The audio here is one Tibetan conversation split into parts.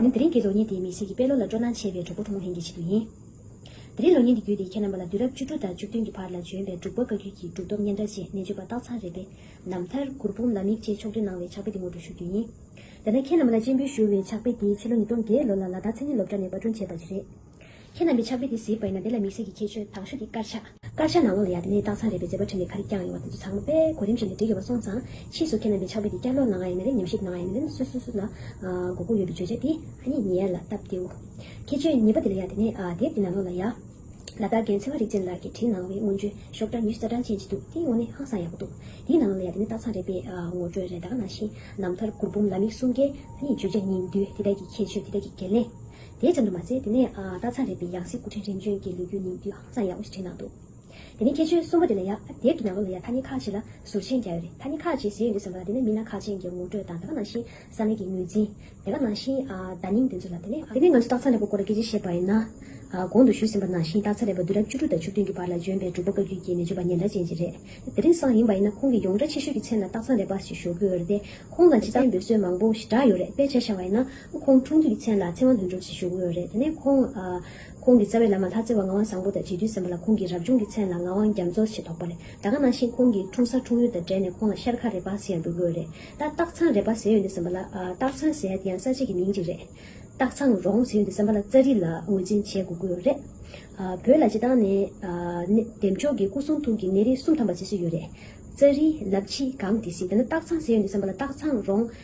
ཡིན། དེ་རིང་གི་ལོ་ཉིན་དེ་མི་སེར་གྱི་དཔེ་ཀློག་ལ་སྤྲོ་སྣང་ཆེ་བའི་གྲོགས་པོ་ཐུང་ངུ་ལྷན་གྱི་ཆེད་དུ་ཡིན། དེ་རིང་ལོ་ཉིན་འདི་བརྒྱུད་དེ་ཁྱེད་རྣམ་པ་ལ་དུས་རབས་བཅུ་དྲུག་དང་བཅུ་བདུན་གྱི་བར་ལ་བྱོན་པའི་འབྲུག་པ་བཀའ་བརྒྱུད་ཀྱི་གྲུབ་ཐོབ་སྙན་གྲགས་ཆེད་གནས་བཅོལ་པ་སྟག་ཚང་རེད་པས་ན་མཐར་གུར་འབུམ་ལ་མིག་ཅེས་ཕྱོགས་སྟོན་གནང་བའི་ཕྱག་དཔེ་འདི་ངོ་སྤྲོད་ཞུ་རྒྱུ་ཡིན། ཡང་ན་ཁྱེད་རྣམ་པ་ལ་སྤྱན་འབུལ་ཞུ་བའི་ཕྱག་དཔེ་འདི་ཕྱི་ལོ་ཉིས་སྟོང་བརྒྱད་ལོ་ལ་ལ་དྭགས་མཚན་ཉིད་སློབ་གྲྭ་ནས་པར་སྐྲུན་བྱས་པ་ཞིག་རེད། ཁྱེད་ལ་མི་ཆགས་པས་དེ་གཟིགས་པས་ན་དེ་ལ་མིག་ཟད་ཀྱི་ཁྱད་ཆོས་དང་ཤུགས་ཀྱི་དཀར་ཆ། དཀར་ཆ་ནག་མོ་ལ་ཡང་དེ་ནས་སྟག་ཚང་རས་པའི་མཛེས་པ་ཕྲེང་བའི་ཁ་རི་བརྐྱངས་ཡོང་བ་དེ་ཚོ་ཚང་མ་པས་གོ་རིམ་བཞིན་དུ་འབྲི་དགོས་པ་སོང་ཙང། ཕྱིས་སུ་ཁྱེད་ལ་མི་ཆགས་པས་དེ་བསྐྱར་ཀློག་གནང་ཡང་ཡིན་ནའི་ཉམས་ཞིབ་གནང་ཡང་ཡིན་ནའི་སུ་སུ་སུ་ལ་མགོ་སྐོར་ཡོད་པའི་བརྗོད་བྱ་དེ་ཧ་ཉེ་ཉེ་ཡ་ལ་སྟབས་བདེའོ། ཁྱད་ཆོས་གཉིས་པ་དེ་ལ་ཡང་དེ་ནས་དེབ་ཀྱི་ནང་ལོགས་ལ་ཡ། ལ་དྭགས་རྒན་ཚེ་བ་རིག་ཅན་ལགས་ཀྱིས་བྲིས་གནང་བའི་སྔོན་བྱོན་ཤོག་སྒྲ་ཉུལ་རྩ་གྲངས་ཅན་ཅིག་འདུག་དེའི་ངོ་ནི་ཧང་སང་ཡག་པོ་འདུག་དེའི་ནང་ལོགས་ལ་ཡང་དེ་ནས་སྟག་ཚང་རས་པས་ངོ་སྤྲོད་རེ་དྭགས་གནང་ཞིང་རྣམ་ཐར་གུར་འབུམ་ལ་མིག་གསུམ་ཀའི་ཧ་ཉེ་བརྗོད་བྱ་གཉིས་འདུས་དེ་དག་གི་ཁྱད་ཆོས་དེ་དག་གི་འགན་ལེན། དེའི་མཚམས་དུ་མ་ཟད་དེ་ནས་སྟག་ཚང་རེད་པའི་ཡང་སྲིད་སྐུ་ཕྲེང་རིམ་བྱོན་གྱི་ལོ་རྒྱུས་ནི་དུས་ཧང་སང་ཡག་པོ་ཞིག་བྲིས་གནང་འདུག་དེ་ནས་ཁྱད་ཆོས་གསུམ་པོ་དེ་ལ་ཡ་དེབ་ཀྱི་ནང་ལོ་ལ་ཡ་ཐ་སྙད་ཁག་ཅིག་ལ་ཟུར་མཆན་རྒྱག་ཡོད་རེད་ཐ་སྙད་ཁག་ཅིག་ཟེར་ཡོད་འདུག་ཟེར་བ་ལ་དེ་ནས་མི་སྣ་ཁག་ཅན་གྱི་ངོ་སྤྲོད་དང་དེ་ག་ནང་བཞིན་ས་གནས་ཀྱི་ངོས་འཛིན། དེ་ག་ནང་བཞིན་བརྡ་རྙིང་དེ་ཚོ་ལ་དེ་ནས་དེ་ནས་ང་ཚོ་སྟག་ཚང་རེད་པ་སྐོར་ལ་སྐད་ཆ་བཤད་པ་ཡིན་ན། གོང་དུ་ཞུས་ཟིན་པ་ནང་བཞིན་སྟག་ཚང་རེད་པ་དུས་རབས་བཅུ་དྲུག་དང་བཅུ་བདུན་གྱི་བར་ལ་བྱོན་པའི་འབྲུག་པ་བཀའ་བརྒྱུད་ཀྱི་ནས་བརྗོད་པ་ཉེན་བརྡ་ཅན་ཅིག་རེད་དེ། དེང་སང་ཡིན་པ་ཡིན་ན་ཁོང་གི་ཡོངས་གྲགས་ཆེ་ཤོས་ཀྱི་མཚན་ལ་སྟག་ཚང་རེད་པ་ཞེས་ཞུ་དགོས་ཡོད་རེད་དེ། ཁོང་ལ་འཇིག་རྟེན་འབོད་སྲོལ་མང་པོ་ཞིག་བསྒྲགས་ཡོད་རེད་དཔེ་ཆ་ཤར་བ་ཡིན་ན། ཁོང་ཁྲུང་ཐུའུ་ཡི་མཚན་ལ་ཚེ་དབང་དོན་གྲུབ་ཅེས་ཞུ་དགོས་རེད་དེ་ནས་ཁོང། ཁོང་གི་རྩ་བའི་བླ་མ་ལྷ་རྩེ་བ་ངག་དབང་བཟང་པོ་དང་བྱེས་བརྒྱུད་སེམས་པ་ལ་ཁོང་གི་རབ་བྱུང་གི་མཚན་ལ་ངག་དབང་རྒྱ་མཚོ་ཞེས་ཐོགས་པ་རེད་ད་ག་ནང་བཞིན་ཁོང་གི་འཁྲུངས་ས་འཁྲུངས་ཡུལ་དང་འབྲེལ་ནས་ཁོང་ལ་ཤར་ཁ་རེ་པ་ཟེར་ཡང་འགྲུབ་དགོས་རེད་ད་སྟག་ཚང་རེ་པ་ཟེར་ཡོད་འདུག་སེམས་པ་ལ། སྟག་ཚང་ཟེར་ཡ་དེ་ཡང་ས་ཆ་གི་མིང་ཅིག་རེད། སྟག་ཚང་རོང་ཟེར་ཡོད་འདུག་སེམས་པ་ལ་རྩ་རིག་ལ་ངོས་འཛིན་བྱེད་དགོས་དགོས་རེད། བོད་ལ་སྤྱི་བཏང་ནས། འདེབས་མཆོག་གི་སྐུ་གསུང་ཐུགས་ཀྱི་གནས་རི་གསུམ་ཐམ་པ་ཅེས་སྲོལ་ཡོད་རེད། རྩ་རིག། ལབ་ཕྱི། གངས་ཏི་སི་དེ་ནས་སྟག་ཚང་ཟེར་ཡོད་འདུག་སེམས་པ་ལ་སྟག་ཚང་རོང།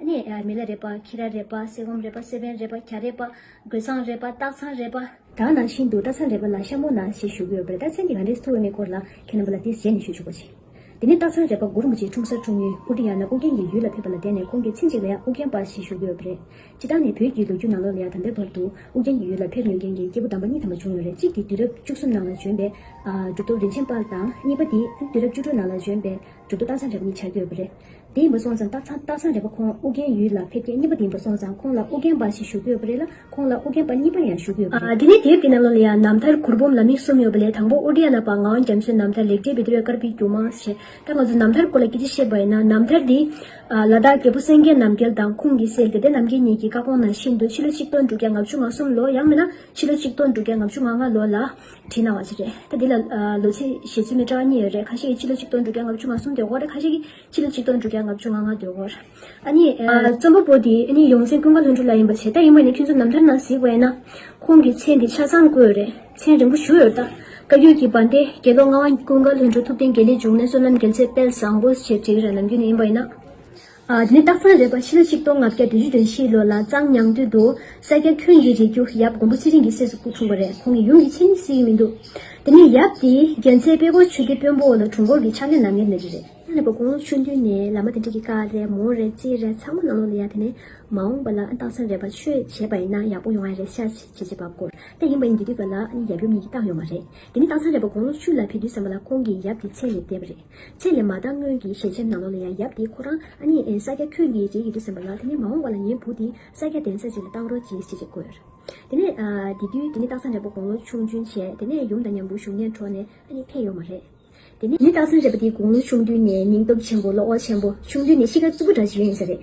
ནི། མི་ལ་རས་པ། ཁྱི་ར་རས་པ། གསེར་བུམ་རས་པ། གསེར་བན་རས་པ། གྱ་རས་པ། གོས་ཚང་རས་པ། སྟག་ཚང་རས་པ། དག་ནང་བཞིན་དུ་སྟག་ཚང་རས་པ་ལ་ཤ་མོ་ན་ཞེས་ཞུ་གི་ཡོད་པས་སྟག་ཚང་གི་རང་རིས་ཐོ་འོས་མེད་སྐོར་ལ་ཁྱེད་རྣམ་པ་ལ་དེ་ཟེར་ནས་ཞུ་ཆོག་པ་བྱས། དེ་ནས་སྟག་ཚང་རས་པ་མགོ་རིན་པོ་ཆེའི་འཁྲུངས་སར་འཁྲུངས་ཉིན་ཨུ་ཀྲི་ཡ་ན་ཨུ་རྒྱན་གྱི་ཡུལ་ལ་ཕེབས་པ་ལ་བརྟེན་ནས་ཁོང་གི་ཚེ་གཅིག་ལ་ཡང་ཨུ་རྒྱན་པ་ཞེས་ཞུ་གི་ཡོད་པ་རེད། སྤྱི་བཏང་ནས་བོད་ཀྱི་ལོ་རྒྱུས་ནང་ལོ་ལ་ཡང་དམ་པའི་བར་དུ་ཨུ་རྒྱན་གྱི་ཡུལ་ལ་ཕེབས་ཡོད་མཁན་གྱི་སྐྱེས་བུ་དམ་པ་གཉིས་དམ་པ་བྱུང་ཡོད་རེད་གཅིག་གིས་དུས་རབས་བཅུ་གསུམ་ནང་ལ་བྱོན་པའི། གྲུབ་ཐོབ་རིན་ཆེན་དཔལ་དང་གཉིས་པ་དེས་དུས་རབས་བཅུ་དྲུག་ནང་ལ་བྱོན་པའི། མཇུག་ཏུ་སྟག་ཚང་རེ་བ་གཉིས་ཆགས་ཀྱི་ཡོད་པ་རེད། དེ་མ་སོང་ཙང་སྟག་ཚང་སྟག་ཚང་རེ་བ་ཁོང་ཨུ་རྒྱན་ཡུལ་ལ་ཕེབས་སྐད་གཉིས་པ་དེ་མ་སོང་ཙང་ཁོང་ལ་ཨུ་རྒྱན་པ་ཞིག་བཞུགས་ཀྱི་ཡོད་པ་རེད་ལ་ཁོང་ལ་ཨུ་རྒྱན་པ་གཉིས་པ་ཡང་བཞུགས་ཀྱི་ཡོད་པ་རེད། དེ་ནས་དེབ་དེ་ནང་ལོ་ལེ་ཡ་ནམ་ཐར་གུར་འབུམ་ལ་མིག་གསུམ་ཡོད་པ་ལས་དང་པོ་ཨུ་རྒྱན་ལ་བ་ངའོ་འཇམ་གསོན་ནམ་ཐར་ལེགས་བྲིས་བི་དེ་བས་དཀར་པོའི་རྒྱུ་མང་ཞེས་ད་ང་ཚོ་ནམ་ཐར་སྐོར་ལ་སྐད་ཆ་བཤད་པ་ཡིན་ན་ནམ་ཐར་དེ། ལ་དྭགས་རྒྱལ་པོ་སེང་གེ་ནམ་རྒྱལ་དང་ཁོང་གིས་བསྲེགས་ཏེ་དེ་ནམ་རྒྱལ་གཉིས་ཀྱི་བཀའ་དགོངས་ནང་བཞིན་དུ་ཕྱི་ལོ་ཆིག་སྟོང་དྲུག་བརྒྱ་ང་བཅུ་ང་གསུམ་ལོ་ཡང་མིན་ན་ཕྱི་ལོ་ཆིག་སྟོང་དྲུག་བརྒྱ་ང་བཅུ་ང་ལྔ་ལོ་ལ། བྲིས་གནང་བ་ཞིག་རེད་ད་འདི་ལ་ལོ་ཚིགས་བཞེས་ཚུལ་མི་འདྲ་བ་གཉིས་ཡོད་རེད་ཁ་ཤས་ཀྱི་ཕྱི་ལོ་ཆིག་སྟོང་དྲུག་བརྒྱ་ལྔ་བཅུ་ང་གསུམ་དུས་འཁོར་རེད་ཁ་ཤས་ཀྱི་ཕྱི་ལོ་ཆིག་སྟོང་དྲུག་བརྒྱ་ལྔ་བཅུ་ང་ལྔ་དུས་འཁོར་ཨ་ནི། རྩོམ་པ་པོ་འདི་ནི་ཡོངས་འཛིན་ཀུན་དགའ་ལྷུན་གྲུབ་ལགས་ཡིན་པ་བྱས་ད་ཡིན་མོད་ནི་ཁྱོད་ཚོ་ནམ་ཐར་ནང་གཟིགས་བས་ན་ཁོང་གི་མཚན་འདི་ཆ་ཚང་བཀོད་ཡོད་རེད་མཚན་རིང་པོ་བཞུགས་ཡོད་ད་བཀའ་འགྱུར་གྱི་བན་དེ་དགེ་སློང་ལྔ་བ་ཀུན་དགའ་ལྷུན་གྲུབ་ཐུབ་བསྟན་དགེ་ལེགས་འབྱུང་གནས་བསོད་ནམས་རྒྱལ་མཚན་དཔལ་བཟང་པོ་ཞེས་བྲིས་རེད་ནམ་རྒྱུན་ནི་ཡིན་པ་ཡིན་ན། དེ་ནི་སྟག་ཚང་རེད་པ་ཕྱི་ལོ་ཆིག་སྟོང་ལྔ་བརྒྱ་དོན་བཅུ་དོན་བཞིའི་ལོ་ལ་གཙང་ཉང་སྟོད་དུ་ས་སྐྱ་ཁྱོད་ཀྱི་རིགས་རྒྱུ་ཡབ་མགོན་པོ་ཚེ་རིང་གི་སྲས་སུ་སྐུ་འཁྲུངས་པ་རེད་ཁོང་གི་ཡུམ་གྱི་མཚན་ནི་སིའི་མི་འདུག་དེ་ནས་ཡབ་དེའི་རྒྱལ་མཚན་དཔལ་འཁོར་ཆོས་སྡེ་དཔོན་པོ་ལ་དྲུང་འཁོར་གྱི་ཕྱག་ལེན་ནང་ངེར་མེད་རེད། ཨ་ལེ་བ་དགུང་ལོ་བཅུ་འདུས་ནས་ལ་མ་དེ་འདྲ་གི་དཀའ་རེད་མོ་རེད་ཅི་རེད་ཚང་མ་ནང་ལོག་ལ་ཡ་དེ་ནས་མ་འོངས་པ་ལ་ཨ་སྟག་ཚང་རེད་པ་ཆོས་བྱེད་པ་ཡིན་ན་ཡག་པོ་ཡོང་ཨ་རེད་ཤ་ཆེ་ཆེ་བྱེད་པ་དཀོར་ལེ་ཡིན་པ་ཡིན་དུས་དུས་པ་ལ་ཨ་ནི་ཡབ་ཡུམ་གཉིས་ཀྱི་རྟགས་ཡོད་མ་རེད་དེ་ནི་སྟག་ཚང་རེད་པ་དགུང་ལོ་བཅུ་ལ་ཕེབས་དུས་སམ་པ་ལ་ཁོང་གི་ཡབ་ཀྱི་མཚན་ནི་བསྡད་པ་རེད། ཚེ་ལས་མ་བཏང་སྔོན་གྱི་ཞལ་ཆེམས་ནང་ལོགས་ལ་ཡང་ཡབ་དེས་ཁོ་རང་ཨ་མྱེས་ཨེན་ས་སྐྱ་ཁྱོད་ངའི་རྗེས་ཡི་དུས་ཟིན་པ་ལ་དེ་ནས་མ་འོངས་བ་ལ་ངའི་བུ་དེས་ས་སྐྱ་གདན་ས་ཅིག་ལ་བཏང་རོགས་གྱིས་ཅི་ཞིག་བསྒོས། དེ་ནས། དེ་དུས་དེ་ནི་སྟག་ཚང་རལ་པོ་དགུང་ལོ་ཆུང་བདུན་བྱས་དེ་ནས་ཡུམ་དང་མཉམ་དུ་བཞུགས་གནས་གྲོངས་ནས་ཨ་མྱེས་ཕེབས་ཡོང་བ་རེད། དེ་ནས། ངའི་སྟག་ཚང་རལ་པོ་དེ་དགུང་ལོ་ཆུང་བདུན་ནས་སྙིང་སྟོབས་ཆེན་པོ་བློ་ཁོག་ཆེན་པོ་ཆུང་དུས་ནས་གཤིས་ཀ་རྩུབ་པོ་འདྲ་ཞིག་ཡོད་ཡིན་ས་རེད།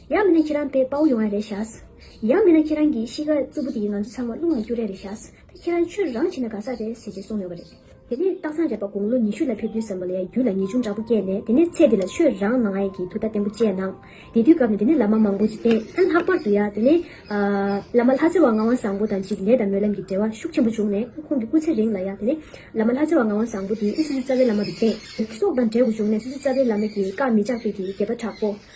ཡང་མིན་ན་ཁྱེད་རང་བལ་དཔའ་བོ་ཡོང་ར་རེད་ཤགས། ཡང་མིན་ན་ཁྱེད་རང་གི་གཤིས་ཀ་རྩུབ་པོ་དེ་ང་ཚོ་ཚང་མ་རླུང་ལ་སྐྱུར་ར་རེད་ཤགས། ད་ཁྱེད་རང་ཆོས་རང་བྱེད་ན་དགའ་ས་རེད་ཟེར་ཅེས་གསུངས་ཡོད་པ་རེད། དེ་ནས་སྟག་ཚང་རས་པ་དགུང་ལོ་ཉི་ཤུ་ལ་ཕེབས་དུས་བསམ་བློ་ཡང་རྒྱུད་ལ་ངེས་འབྱུང་འདྲ་པོ་སྐྱེས་ནས་དེ་ནས་ཚེ་འདི་ལ་ཆོས་རང་ནང་ཡས་ཀྱི་ཐུགས་ཐ་བརྟན་པོ་བཅས་གནང། དེ་དུས་སྐབས་ནས་དེ་ནས་བླ་མ་མང་པོ་ཅིག་བསྟེན། ཨ་ལྷག་པར་དུ་ཡང་དེ་ནས། བླ་མ་ལྷ་རྩེ་བ་ངག་དབང་བཟང་པོ་དང་ཅིག་ལས་དང་སྨོན་ལམ་གྱི་འབྲེལ་བ་ཤུགས་ཆེན་པོ་བྱུང་ནས་ཁོང་གི་སྐུ་ཚེ་རིང་ལ་ཡང་དེ་ནས། བླ་མ་ལྷ་རྩེ་བ་ངག་དབང་བཟང་པོ་དེའི་དབུས་སུ་སི་རྩ་བའི་བླ་མ་དུ་བསྟེན། སོགས་དང་འབྲེལ་དགོས་བྱུང་ནས་སི་རྩ་བའི་བླ་མ་གྱིས་བཀའ་མི་བཅག་པས་ཀྱི་དགེ་བ་དྲག་པོ།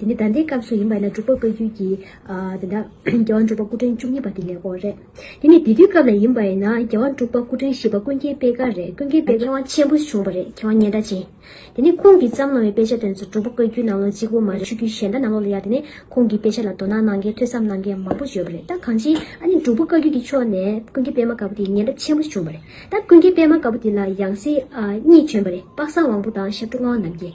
དེ་ནི་ཟླ་འདིའི་སྐབས་སུ་ཡིན་པ་ཡིན་ན་འབྲུག་པ་བཀའ་བརྒྱུད་ཀྱི། དེ་འདྲ། རྒྱལ་བ་འབྲུག་པ་སྐུ་ཕྲེང་བཅུ་གཉིས་པ་དེ་ལས་འོག་རེད། དེ་ནི་དེ་དུས་སྐབས་ལ་ཡིན་པ་ཡིན་ན་རྒྱལ་བ་འབྲུག་པ་སྐུ་ཕྲེང་བཞི་པ་ཀུན་མཁྱེན་དཔེ་དཀར་རེད་ཀུན་མཁྱེན་དཔེ། མཁས་དབང་ཆེན་པོ་བྱུང་བ་རེད་མཁས་དབང་སྙན་གྲགས་ཅན། དེ་ནི་ཁོང་གིས་བརྩམས་གནང་བའི་དཔེ་ཆ་དོན་གཙོ་འབྲུག་པ་བཀའ་བརྒྱུད་ནང་ལོགས་གཅིག་པུ་མ་རེད་ཆོས་བརྒྱུད་གཞན་དག་ནང་ལོགས་ལ་ཡང་དེ་ནས་ཁོང་གི་དཔེ་ཆ་ལ་དོ་སྣང་གནང་མཁན་ཐོས་བསམ་གནང་མཁན་མང་པོ་བརྗོད་པ་རེད་ད་གང་ཅི། ཨ་ནི་འབྲུག་པ་བཀའ་བརྒྱུད་ཀྱི་ཕྱོགས་ནས་ཀུན་མཁྱེན་དཔེ་མ་དཀར་པོ་དེ་སྙན་གྲགས་ཆེན་པོ་བྱུང་བ་རེད་ད་ཀུན་མཁྱེན་དཔེ་མ་དཀར་པོ་དེ་ལ་ཡང་སྲིད། གཉིས་བྱོན་པ་རེད་དཔག་བསམ་དབང་པོ་དང་ཤར་གྲུ་ལྔ་བ་རྣམ་རྒྱལ།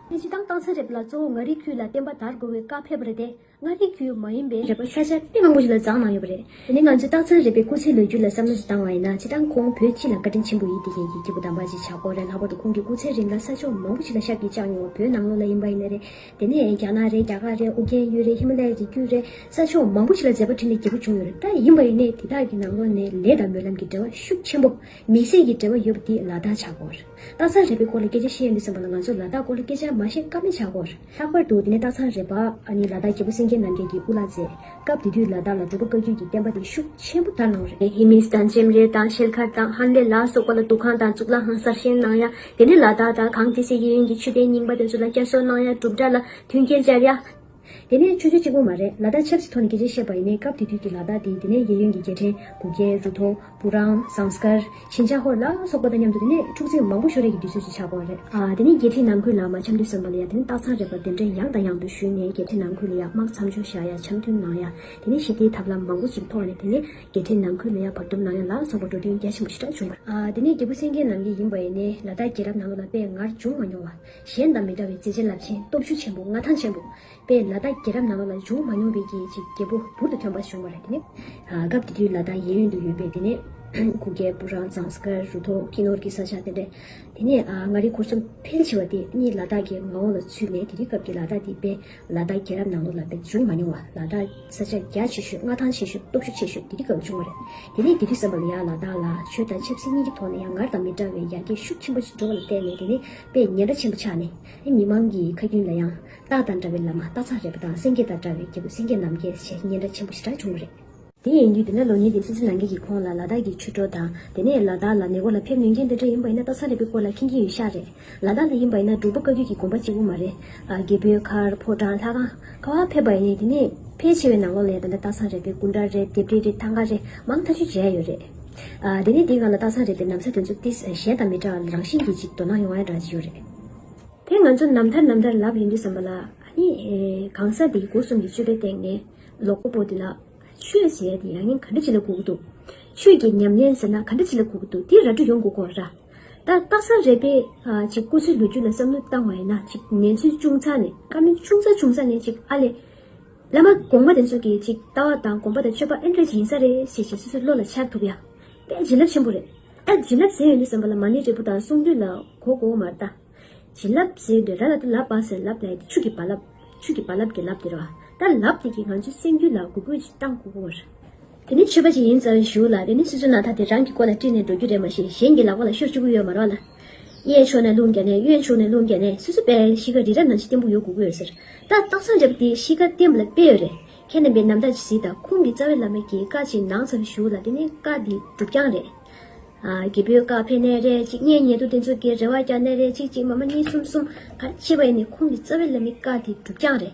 ཁྱེད་ཀྱིས་ཏང་དང་ཚན་རིག་ལ་གཙོ་བོ་མངའ་རིས་ཁུལ་ལ་བརྟེན་པ་དར་དགོས་པའི་བཀའ་ཕེབས་པ་རེད་དེ། མངའ་རིས་ཁུལ་མ་ཡིན་པའི། རེ་བ་ས་ཆ་སྟེང་མང་པོ་ཞིག་ལ་བརྫངས་གནང་ཡོད་པ་རེད། དེ་ནི་ང་ཚོའི་ཏང་ཚན་རིག་པའི་སྐུ་ཚེའི་ལོ་རྒྱུས་ལ་བསམ་བློ་ཞིག་བཏང་བ་ཡིན་ན་ཅི་སྟངས་ཁོང་བོད་སྤྱི་ལ་བཀའ་དྲིན་ཆེན་པོ་ཡིད་དེ་ཡིན་གྱི་སྐྱེས་བུ་དམ་པ་ཅིག་ཆགས་སྐོར་རེད་ལྷག་པར་དུ་ཁོང་གི་སྐུ་ཚེའི་རིང་ལ་ས་ཕྱོགས་མང་པོ་ཞིག་ལ་ཤག་གིས་བཅགས་མྱོང་བ་བོད་ནང་ལོགས་ལ་ཡིན་པ་ཡིན་ནི་རེད། དེ་ནས་རྒྱ་ནག་རེད་རྒྱ་གར་རེད་ཨུ་རྒྱན་ཡུལ་རེད་ཧི་མ་ལ་ཡའི་རི་རྒྱུད་རེད་ས་ཕྱོགས་མང་པོ་ཞིག་ལ་མཛད་པ་ཁྲིད་ནས་རྒྱལ་པོ་བྱུང་ཡོད་རེད་ད་ཡིན་པ་ཡིན་ནི་དེ་དག་གི་ནང་ལོགས་ནས་ལས་དང་སྨོན་ལམ་གྱི་འབྲེལ་བ་ཤུགས་ཆེན་པོ། མི་སེར་གྱི་འབྲེལ་བ་ཡོད་པ་དེ་ལ་དྭགས་ཆགས་སྐོར། སྟག་ཚང་རེད་པའི་སྐོར་ལ་སྐད་ཆ་བཤད་ཡ་མི་སོང་བ་ལ་ང་ཚོ་ལ་དྭགས་སྐོར་ལ་སྐད་ཆ་མ་བཤད་ཀ་མེད་ཆགས་སྐོར། ལྷག་པར་དུ་འདི་ནས་སྟག་ཚང་རེད་པ་ཨ་ནི་ལ་དྭགས་རྒྱལ་པོ་སེང་གེ་རྣམ་རྒྱལ་གྱི་དབུ་ལག་མཛད་སྐབས་དེ་དུས་ལ་དྭགས་ལ་འབྲུག་པ་བཀའ་བརྒྱུད་ཀྱི་བསྟན་པ་དེ་ཤུགས་ཆེན་པོ་དར་གནང་བ་རེད། ཧི་མིས་དང་ཅེམ་རེ་དང་ཤེལ་མཁར་དང་ཧན་ལེ་ལ་སོགས་པ་ལ་འདུ་ཁང་དང་གཙུག་ལག་ཁང་གསར་བཞེངས་གནང་ཡ། དེ་ནས་ལ་དྭགས་དང་གངས་ཏི་སེ་གཡས་གཡོན་གྱི་ཆུ་གཏེར་རྙིང་པ་དེ་ཚོ་ལ་བསྐྱར་གསོ་གནང་ཡ་འབྲུག་གྲྭ་ལ་མཐུན་རྐྱེན་སྦྱར་ཡ། དེ་ནས་ཆུ་ཆུ་གཅིག་པོ་མ་རེད་ལ་དག་ཆབ་སྲིད་ཐོག་ནས་གལ་ཆེན་བཤད་པ་ཡིན་ནའི་སྐབས་དེ་དུས་ཀྱི་ལ་དག་དེ་དེ་ནས་གཡས་གཡོན་གྱི་རྒྱལ་ཕྲན་གུ་རྒྱལ་རུ་ཐོང་བུ་རང་ཟངས་སྐར་ཤིན་ཅང་ཧོར་ལ་སོགས་པ་དང་མཉམ་དུ་དེ་ནས་འཁྲུག་འཛིང་མང་པོ་ཤོར་རེས་ཀྱི་དུས་ཚོད་ཅིག་ཆགས་པ་རེད། དེ་ནས་རྒྱལ་ཁྲི་ནང་ཁུལ་ལ་མ་འཆམ་དུས་སོན་པ་ལ་ཡ་དེ་ནས་སྟག་ཚང་རེད་པ་དེ་འདྲ་ཡང་དང་ཡང་དུ་ཞུས་ནས་རྒྱལ་ཁྲི་ནང་ཁུལ་ལ་ཡ་དམག་མཚམས་སྦྱོར་བཞག་ཡ་འཆམ་མཐུན་གནང་ཡ་དེ་ནས་ཞི་བདེའི་ཐབས་ལམ་མང་པོ་ཅིག་ཐོག་ནས་དེ་ནས་རྒྱལ་ཁྲི་ནང་ཁུལ་ལ་ཡ་བར་སྡུམ་གནང་ཡ་ལ་སོགས་པ་འགྲོ་དོན་རྒྱ་ཆེན་པོ་ཞེ་དྲག་བྱུང་བ་རེད། དེ་ནས་རྒྱལ་བུ་སེང་གེ་ནང་གི་ཡིན་པ་ཡིན་ནའི་ལ་དག་རྒྱལ་རབས་ནང་ལ་ལ་དཔེ་ངར་འབྱུང་མ་མྱོང་བ། གཞན་དང་མི་འདྲ་བའི་མཛེས་བྱེད་རླབས་ཆེན་སྟོབས་ཞུགས་ཆེན་པོ་མངའ་ཐང་ཆེན་པོ་པས་ལ་དྭགས་རྒྱལ་རབས་ནང་པ་ལ་འབྱུང་མ་མྱོང་བའི་རྒྱལ་གྱི་རྒྱལ་པོ་འབུར་དུ་ཐོན་པ་བྱུང་བ་རེད་དེ་ནི། སྐབས་དེ་དུས་ལ་དྭགས་གཡས་གཡོན་དུ་ཡོད་པའི་དེ་ནས་གུ་གེ་སྤུ་རང་ཙང་སི་ཀར་རུ་ཐོག་ཀི་ནོར་གྱི་ས་ཆ་དེ་རེད། དེ་ནས་མངའ་རིས་འཁོར་གསུམ་ཕལ་ཆེ་བ་དེ་གཉིས་ལ་དྭགས་ཀྱི་མངའ་འོག་ལ་ཚུད་ནས་དེ་དུས་སྐབས་ཀྱི་ལ་དྭགས་དེ་པས་ལ་དྭགས་རྒྱལ་རབས་ནང་ལོ་ལ་པས་འབྱུང་མ་མྱོང་བ་ལ་དྭགས་ས་ཆ་རྒྱ་ཆེ་ཤོས་མངའ་ཐང་ཆེ་ཤོས་སྟོབས་ཤུགས་ཆེ་ཤོས་དེ་དུས་སྐབས་བྱུང་བ་རེད། དེ་ནས་དེ་དུས་བསམ་པ་ལ་ཡང་ལ་དྭགས་ལ་ཆོས་དང་ཆབ་སྲིད་གཉིས་ཀྱི་ཐོག་ནས་ཡང་སྔར་དང་མི་འདྲ་བའི་ཡར་རྒྱས་ཤུགས་ཆེན་པོ་འགྲོ་བ་ལ་བརྟེན་ནས་དེ་ནི་པས་ཉེན་ཁ་ཆེན་པོ་ཆགས་ནས་མི་མང་གི་ཁ་རྒྱུན་ལ་ཡང་སྟག་དང་འདྲ་བའི་ལ་མ་སྟག་ཚག་རེད་པ་དང་སེང་གེ་དང་འདྲ་བའི་སྐྱེ་བོ་སེང་གེ་ནམ་སྐྱེས་ཞེས་ཉེན་ཁ་ཆེན་པོ་ཞེ་དྲག་བྱུང་བ་རེད། དེ་ཡིན་དུས་དེ་ནས་ལོ་ཉེས་ཏེ་སི་སི་ལང་ཀེ་ཡིས་ཁོང་ལ་ལ་དྭགས་ཀྱི་ཆུ་གྲོ་དང་དེ་ནས་ལ་དྭགས་ལ་མེ་འཁོར་ལ་ཕེབས་ནུས་མཁན་དེ་འདྲ་ཡིན་པ་ཡིན་ན་སྟག་ཚག་རེད་པའི་སྐོར་ལ་མཁྱེན་གྱིན་ཡོད་ཤག་རེད། ལ་དྭགས་ལ་ཡིན་པ་ཡིན་ན་འབྲུག་པ་བཀའ་བརྒྱུད་ཀྱི་དགོངས་པ་གཅིག་པུ་མ་རེད། རྒྱལ་པོའི་མཁར་ཕོ་བྲང་ལྷ་ཁང། ཁ་བ་ཕེབས་པ་ཡིན་དེ་ནས་ཕལ་ཆེ་བའི་ནང་ལོགས་ལས་དེ་འདྲ་སྟག་ཚག་རེད་པའི་སྐུ་འདྲ་རེད་དེབ་རེ་རེ་ཐང་ག་རེ་མང་ཐག་ཆོད་བྱས་ཡོད་རེད། དེ་ནི་དེ་ག་ལ་ལྟ་སང་རེད་པའི་ནམ་ཚ་དེ་ཚོ་སྟེ་གཞན་དང་མི་འདྲ་བར་རང་བཞིན་གྱིས་ཅིག་དོ་སྣང་ཡོང་བའི་འདྲ་ཅིག་ཡོད་རེད། དེ་ང་ཚོ་ནམ་ཐར་ནམ་ཐར་ལབ་ཡོང་དུས་བསམ་པ་ལ་ནི། གང་ཟག་འདིའི་སྒོ་གསུམ་གྱི་སྤྱོད་པའི་སྟེང་ནས་ལོ་ཀོ་པོ་འདི་ལ། ཆོས་ཟེར་དེ་ཡང་ཡིན་ག་འདྲ་ཅི་ལ་འགུག་འདུག། ཆོས་ཀྱི་ཉམས་ལེན་ཟེར་ན་ག་འདྲ་ཅི་ལ་འགུག་འདུག་དེ་ར་འབྲུ་ཡོང་འགུག་གོ། ར་ད་ལྟ་སང་རེད་པས། ཅིག་སྐུ་ཚེའི་ལོ་རྒྱུས་ལ་བསམ་བློ་བཏང་བ་ཡིན་ན་ཅིག་ཉན་ཚུལ་ཅུང་ཚ་ནས། ཀ་མེད་ཅུང་ཚ་ཅུང་ཚ་ནས་ཅིག་ཨ་ལས། བླ་མ་དགོངས་པ་དེ་ཚོ་གི་ཅིག་ལྟ་བ་དང་དགོངས་པ་དང་སྤྱོད་པ་ཨེ་འདྲ་ཡིན་ས་རེད་ཞེས་ཞེས་སོ་སོའི་བློ་ལ་འཆར་ཐུབ་ཡ། དཔེ་བྱིན་རླབས་ཆེན་པོ་རེད། ཨེ་བྱིན་རླབས་ཟེར་ཡོད་འདུག་བསམ་པ་ལ་མ་ཎི་འབྲས་བུ་དང་གསུང་འདུས་ལ་གོ་དགོ་མ་རེད་ད། བྱིན་རླབས་ཟེར་ཡོད་འདུག་ར་ལ་ཏུ་ལབ་པ་ཟེར་ལབ་ལ་ཡི་ཏི་ཆུ་གི་བ་ལབ། ཆུ་གི་བ་ལབ་གི་ལབ་དེ་རེད་བ། ད་ལབ་དེ་གིས་ང་ཚོའི་སེམས་རྒྱུད་ལ་གུས་པོ་ཅིག་བཏང་གོ་དགོ་བ་རེད། དེ་ནི་ཆོས་པ་ཅིག་ཡིན་ཙང་བཞུགས་ལ་དེ་ནི་སི་ཙུ་ན་ད་དེ་རང་གི་སྐོར་ལ་དཀྲིས་ནས་འགྲོ་རྒྱུ་རེད་མ་གཞི་གཞན་གྱི་ལག་པ་ལ་ཤོར་བཅུག་གི་ཡོད་མ་རོགས་ལ། གཡས་ཕྱོགས་ནས་རླུང་རྒྱ་ནས་གཡོན་ཕྱུག་ནས་རླུང་རྒྱ་ནས་སོ་སོ་པའི་གཤིས་ཀ་རི་རབ་ནང་བཞི་བརྟན་པོ་ཡོད་དགོས་ཀྱི་ཡོད་ཟེར། ད་སྟག་ཚང་རྒྱབ་དེའི་གཤིས་ཀ་བརྟན་པོ་ལ་དཔེ་ཡོད་རེད། ཁྱེད་རྣམ་པས་ནམ་ཟླ་གཟིགས་དང་ཁོང་གི་རྩ་བའི་བླ་མ་གྱི་བཀའ་ཅིག་ནང་ཚར་བཞུགས་ལ་དེ་ནི་བཀའ་འདི་སྒྲུབ་རྐྱང་རེད། རྒྱལ་པོའི་བཀའ་ཕེབས་ནས་རེ་གཅིག་གཉེན་ཉེ་དུ་དེ་ཚོ་གི་རེ་བ་རྐྱང་ནས་རེ་གཅིག་གཅིག་མ་མ་གཉིས་གསུམ་གསུམ་གར་ཕྱེས་པ་ཡིན་ནི་ཁོང་གི་རྩ་བའི་བླ་མའི་བཀའ་འདི་སྒྲུབ་རྐྱང་རེད།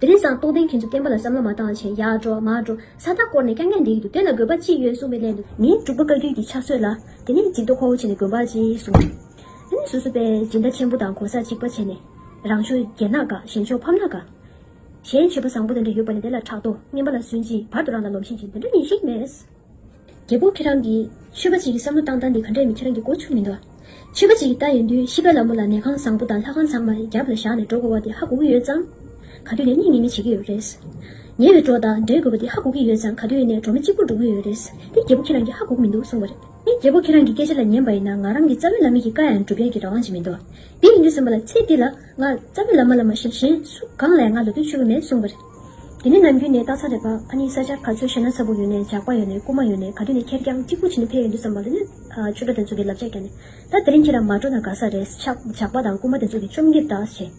དེ་རིང་སང་རྟོགས་ལྡན་ཁྱེད་ཚོ་བསྟན་པ་ལ་བསམ་བློ་མ་བཏང་ཆེན་ཡག་འགྲོ་མ་འགྲོ་ས་རྟགས་བསྐོར་ནས་སྐྱ་ངན་འདེད་ཀྱི་འདུག་དེ་ལ་དགོས་པ་ཅི་ཡོད་གསུངས་པའི་སླད་དུ། ངས་འབྲུག་པ་བཀའ་བརྒྱུད་ཀྱི་ཕྱག་སྲོལ་ལ། དེ་ནས་འཇིགས་དོ་ཁོ་བོ་བྱས་ནས་དགོན་པར་ཅི་གསུངས་པ། དེ་ནས་སོ་སོ་པས་སྦྱིན་བདག་ཆེན་པོ་དང་གོ་ས་གཅིག་པ་བྱས་ནས། རང་ཕྱོགས་རྒྱལ་ན་དགའ་གཞན་ཕྱོགས་ཕམ་ན་དགའ། གཞན་ཆོས་པ་བཟང་པོ་དེ་འདྲ་ཡོད་པ་ནས་དེ་ལ་ཕྲག་དོག་ངན་པ་ལ་སུན་ཅིང་བར་དུ་རང་ལ་ལོམ་ཤེས་ཀྱི་འདི་འདྲ་ཉིན་ཞིག་མེད། རྒྱལ་པོ་ཁྱེད་རང་གིས། ཆོས་པ་གཅིག་གི་བསམ་བློ་བཏང་སྟངས་འདི་ག་འདྲས་མི་ཁྱེད་རང་གི་མགོ་ཕྱུགས་མི་འདུག་ཨ། ཆོས་པ་གཅིག་གི་ལྟ་ཡོད་དུས་ཤི་བ་ལ་མོ་ལ་ནད་ཁང་བཟང་པོ་དང་ལྷ་ཁང་ཚང་མ་རྒྱབ་ལ་བཞག་ནས་འགྲོ་དགོས་བ་འདི་ཧ་གོ་གི་ཡོད་ཙང། ག་དུས་ནས་སྙིང་ཉེ་མི་བྱེད་ཀྱི་ཡོད་རེད། ཉེ་བའི་འགྲོ་དང་འབྲལ་དགོས་བ་འདི་ཧ་གོ་གི་ཡོད་ཙང་ག་དུས་ནས་འགྲོ་མི་གཅིག་པུར་འགྲོ་གི་ཡོད་རེད། འདི་རྒྱལ་པོ་ཁྱེད་རང་གིས་ཧ་གོ་གི་མི་འདུག་གསུངས་བ་རེད། འདི་རྒྱལ་པོ་ཁྱེད་རང་གི་སྐད་ཆ་ལ་ཉན་པ་ཡིན་ན་ང་རང་གི་རྩ་བའི་ལམ་མིག་གི་བཀའ་ཡང་འགྲུབ་མཁན་གྱི་རང་དབང་ཅིག་མི་འདུག་འདི་ཡིན་དུས་སེམས་པ་ལ་ཚེ་འདི་ལ་ང་རྩ་བའི་ལམ་མ་ལ་མ་ཤེས་གཞན་སུ་གང་ལས་ང་ལ་དོན་ཆོད་པོ་མེད་གསུངས་བ་རེད། དེ་ནི་ནམ་རྒྱུན་ནས་རྟགས་མཚན་རེད་པ་ཨ་ནི་ས་ཆ་ག་ཚོད་ཤེས་ན་ཚ་བུག་ཡོད་ནས་ཇག་པ་ཡོད་ནས་རྐུ་མ་ཡོད་ནས་ག་དུས་ནས་ཁེར་རྐྱང་གཅིག་པུ་བྱིན་ནས་ཕེབས་ཡོད་འདུག་བསམ་པ་ལ་ནི། ཆུ་སྒྲོ་དེ་ཚོ་གི་ལབ་ཆ་ག་ནས། ད་དེ་རིང་ཁྱེད་རང་མ་འགྲོ་ན་དགའ་ས་རེད། ཇག་པ་དང་རྐུ་མ་དེ་ཚོ་གི་བཅོམ་འགེབས་དག་བྱས།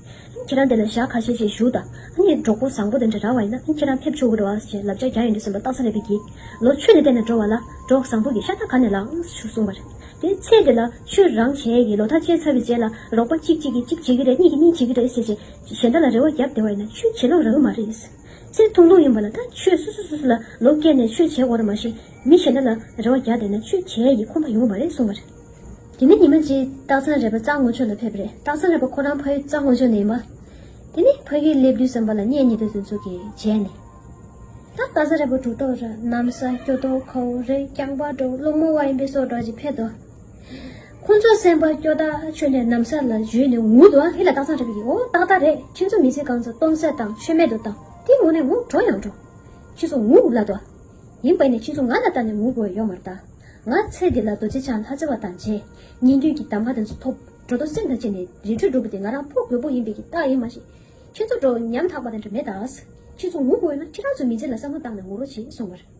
ཁྱེད་རང་དེ་ལ་ཞག་ཁ་ཤས་རྗེས་བཞུགས་ད། ཨ་ནི་གྲོགས་པོ་བཟང་པོ་དེ་འདྲ་རག་བ་ཡིན་ན་ཁྱེད་རང་ཕེབས་ཆོག་གི་རོ་ཨ་ཞེས་ལབ་ཆ་རྒྱག་ཡོད་འདུག་བསམ་པ་རྟགས་མཚན་རེད་པས་བགྱིས། ལོ་ཆུ་ནས་བལྟས་ན་འགྲོ་བ་ལ། གྲོགས་བཟང་པོ་གི་ཤ་ཐག་ག་ནས་ལངས། གསུངས་པར། དེའི་ཚེ་དེ་ལ་ཆུ་རང་བྱས་ཀྱི་ལོ་ཐག་བཅད་ཚར་བའི་རྗེས་ལ་རོགས་པ་གཅིག་གཅིག་གིས་གཅིག་བྱེད་ཀྱི་རེད་གཉིས་ཀྱིས་གཉིས་བྱེད་ཀྱི་རེད་ཟེར་བྱས། གཞན་དག་ལ་རེ་བ་བརྒྱབ་བདེ་བ་ཡིན་ན་ཆོས་བྱེད་ལོང་ར་བ་མ་རེད། ཚེ་ཐུང་ལོང་ཡིན་པ་ལ་ད་ཆོས་སུ་སུ་སུ་སུ་ལ་ལོ་བཀལ་ནས་ཆོས་བྱེད་དགོ་ར་མ་ཤེས་མི་གཞན་དག་ལ་རེ་བ་བརྒྱག་བསྡད་ན་ཆོས་བྱེད་ཡི་ཁོམ་པ་ཡོང་བ་མ་རེད་གསུང་བ་རེད། དེ་མིན་ཉི་མ་རྗེ་སྟག་ཚང་རེད་པ་རྩྭ་སྔོ་ཕྱོགས་ལ་ཕེབས་པ་རེད་སྟག་ཚང་རེད་པ་ཁོ་རང་ཕ་ཡུལ་རྩྭ་སྔོ་ཕྱོགས་ནས་ཡིན་པ། དེ་ནས་ཕ་ཡུལ་སླེབས་དུས་བསམ་པ་ལ་བསྙད་གཉིས་དོད་དོད་ཚུལ་གྱིས་བྱས་ནས། ད་རྩྭ་ས་རེད་པ་འབྲུག་གྲོགས་ར་གནམ་ས་སྐྱོ་གཏོ་ཁའུ་རེ་རྐྱང་པ་འབྲོག་སློང་མོ་བ་ཡིན་པས་སོགས་གྲོགས་ཀྱིས་ཕེབས་དོ། ཁོང་ཚོ་སེམས་པ་སྐྱོ་ད་ཆོས་ནས་གནམ་ས་ལ་བཞུད་ནས་ངུ་འདུག་ཨ་ཧི་ལ་སྟག་ཚང་རེད་པི་ཡོ་ཏག་ཏག་རེད་ཁྱེད་ཚོ་མི་ཚེ་གང་ཚ་སྟོང་ཟད་དང་ཆོས་མེད་དུ་བཏང་དེ་ངུ་ནས་ངུ་གྲོ་ཡང་གྲོ། ཁྱེད་ཚོ་ངུ་འུག་ལ་དོ། ཡིན་པ་ནས་ཁྱེད་ཚོ་ང་ལ་ལྟ་ནས་ངུ་དགོས་ཡོད་མ་རེད་ད། ང་ཚེ་འདི་ལ་རྡོ་རྗེ་འཆང་ལྷ་རྩེ་བ་དང་མཇལ། ཉིན་རྒྱུན་གྱི་གདམས་ཀ་དེ་ཚོ་ཐོབ། གྲོ་དང་སེང་དང་བཅས་ནས་རི་ཁྲོད་འགྲོ་དགོས་དེ་ང་རང་ཕོ་རྒོད་པོ་ཡིན་པའི་གི་རྟགས་ཡིན་མ་ཤེས། ཁྱེད་ཚོ་འགྲོ་ཉམ་ཐག་པ་དེ་འདྲ་མེད་ད། ཁྱེད་ཚོ་ངུ་དགོས་ན་ཁྱེད་རང་ཚོ་མི་ཚེ་ལ་བསམ་བློ་བཏང་ནས་ངུ་རོགས་བྱས་སོང་བར།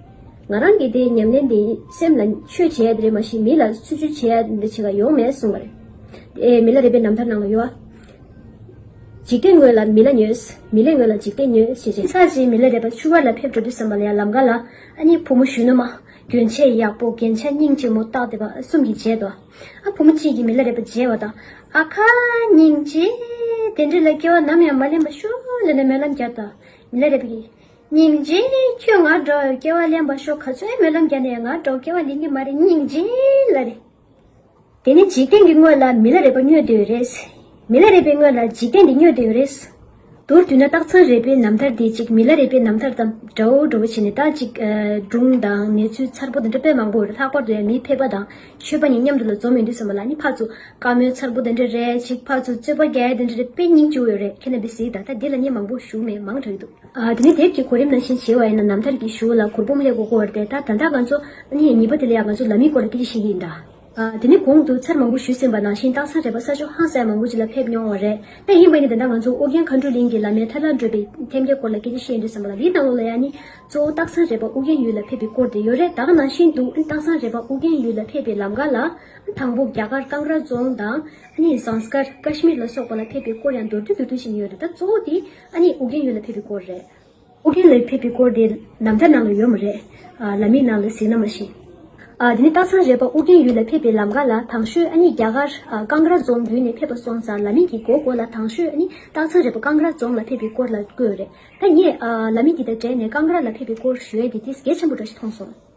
ང་རང་གི་དེ་ཉམས་ལེན་དེ་སེམས་ལ་ཆོས་བྱས་ཡ་རེད་མ་ཤེས་མི་ལ་ཚུལ་ཆུ་བྱས་ཡ་འདི་བྱས་ཀ་ཡོང་མེད་གསུངས་པ་རེད། དེ་མི་ལ་རེད་པའི་རྣམ་ཐར་ནང་ལ་ཡོད་ཨ། འཇིག་རྟེན་ངོས་ལ་མི་ལ་ཉོས། མི་ལས་ངོས་ལ་འཇིག་རྟེན་ཉོས་ཞེས་བྱས། ཚར་རྗེས་མི་ལ་རེད་པ་ཆུ་བར་ལ་ཕེབས་འགྲོ་དུས་བསམ་པ་ལ་ཡང་ལམ་ཀ་ལ་ཨ་ནི་བུ་མོ་གཞོན་ནུ་མ། གྱོན་ཆས་ཡག་པོ་རྒྱན་ཆ་སྙིང་རྗེ་མོ་སྟག་དེ་བ་གསུམ་གྱིས་བརྗེད་དོ། ཨ་བུ་མོ་གཅིག་གིས་མི་ལ་རེད་པ་བརྗེད་བ་དང། ཨ་ཁ། སྙིང་རྗེ། དེ་འདྲ་ལ་སྐྱེ་བ་ནམ་ཡང་མ་ལེན་པ་ཤོག་ལེ་ནས་སྨོན་ལམ་བརྒྱབ་དང། མི་ལ་རེད་པ་གིས། སྙིང་རྗེ། ཁྱོས་ང་འགྲོ་བའི་སྐྱེ་བ་ལེན་པར་ཤོག་ག་ཚོད་སྨོན་ལམ་བརྒྱ་ནས་ང་འགྲོ་སྐྱེ་བ་ལེན་གྱི་མ་རེད་སྙིང་རྗེ། ལ་རེད། དེ་ནི་འཇིག་རྟེན་གྱི་དངོས་ལ་མི་ལ་རས་པ་སྨྱོས་འདོད་ཡོད་རེད། མི་ལ་རས་པའི་དངོས་ལ་འཇིག་རྟེན་འདི་སྨྱོས་འདོད་ཡོད་རེད། དུར་དུས་ན་སྟག་ཚང་རས་པའི་ནམ་ཐར་དེ་ཅིག་མི་ལ་རས་པའི་ནམ་ཐར་དང་འདྲ་བོ་འདྲ་བོ་བྱས་ནས་ད་ཅིག་སྒྲུང་དང་ནས་ཚུལ་མཚར་པོ་དང་འདྲ་དཔེ་མང་པོ་ཡོད་རེད་ལྷག་པར་དུ་ཡང་མིའི་ཕལ་པ་དང་ཆོས་པ་གཉིས་མཉམ་དུ་ལ་འཛོམས་ཡོང་དུས་ཚང་མ་ལ་ནི་ཕ་ཚུ་དཀར་མོའི་མཚར་པོ་དང་འདྲ་རེ་ཅིག་ཕ་ཚུ་རྩོད་པ་རྒྱལ་དེ་འདྲ་རེ་དཔེ་རྙིང་བཅུ་བོ་ཡོད་རེད་ཁྱེད་རྣམ་པས་གཟིགས་ད་ལྟ་འདི་ལ་ནི་མང་པོ་བཞུགས་མེད་མང་དྲགས་ཀྱི་འདུག། དེ་ནས་དེབ་ཀྱི་གོ་རིམ་ནང་བཞིན་བྱེད་བ་ཡིན་ན་ནམ་ཐར་གྱི་གཞུག་ལ་གུར་བུམ་ལས་སྒོ་སྒོ་བར་ཏེ་ད་ད་ལྟ་ང་ཚོ། ནི་ཉིད་པ་དེ་ལ་ཡང་ང་ཚོ་ལ་མི་སྐོར་ལ་ཏི་རི་ཞིག་ཡིན་གདའ། དེ་ནི་གོང་དུ་ཚར་མང་པོ་ཞུས་ཟིན་པ་ནང་བཞིན་སྟག་ཚང་རལ་པ་ས་ཆུ་ཧང་སའི་མང་པོ་ཅིག་ལ་ཕེབས་མྱོང་བ་རེད། དེ་ཡིན་པ་ནི་ད་ལྟ་ང་ཚོ་ཨོ་རྒྱན་མཁའ་འགྲོ་གླིང་གི་བླ་མའི་ཐར་ལ་འགྲོ་པའི་ཐེམ་སྐས་སྐོར་ལ་ཀི་རི་བཤད་འདོད་ཟིན་པ་ལ་དེའི་སྣང་ལོ་ལ་ཡང་ནི། གཙོ་བོ་སྟག་ཚང་རལ་པ་ཨོ་རྒྱན་ཡུལ་ལ་ཕེབས་པའི་སྐོར་དེ་ཡོད་རེད་ད་ག་ནང་བཞིན་དུ། སྟག་ཚང་རལ་པ་ཨོ་རྒྱན་ཡུལ་ལ་ཕེབས་པའི་ལམ་ག་ལ། དང་པོ་རྒྱ་གར་ཀང་ར་རྫོང་དང། ནི་ཟངས་སྐར Kashmir ལ་སོགས་པ་ལ་ཕེབས་པའི་སྐོར་ཡང་མདོར་བསྡུས་མདོར་བསྡུས་བཞིན་ཡོད་རེད་ད་གཙོ་བོ་དེ། ཨ་ནི་ཨུ་རྒྱན་ཡུལ་ལ་ཕེབས་པའི་སྐོར་རེད། ཨུ་རྒྱན་ལ་ཕེབས་པའི་སྐོར་དེ་ནམ་ཐར་ནང་ལ་ཡོད་མ་རེད། ལ་མིག་ནང་ལ་གཟིགས་ན་མ་ཤེས། དེ་ནི་སྟག་ཚང་རལ་པ་ཨུ་རྒྱན་ཡུལ་ལ་ཕེབས་པའི་ལམ་ག་ལ་དྭང་ཤོད་ཨ་ནི་རྒྱ་གར་ཀང་ར་རྫོང་བརྒྱུད་ནས་ཕེབས་པ་སོང་ཙང་ལ་མིག་གི་མགོ་མགོ་ལ་དྭང་ཤོད་ཨ་ནི་སྟག་ཚང་རལ་པ་ཀང་ར་རྫོང་ལ་ཕེབས་པའི་སྐོར་ལ་བཀོད་རེད། ད་ངས་ལ་མིག་འདི་དང་བྲལ་ནས་ཀང་ར་ལ་ཕེབས་པའི་སྐོར་ཞུས་ཨེ་དེ་དེ་གལ་ཆེན་པོ་འདྲ་ཞིག་མཐོང་སོང།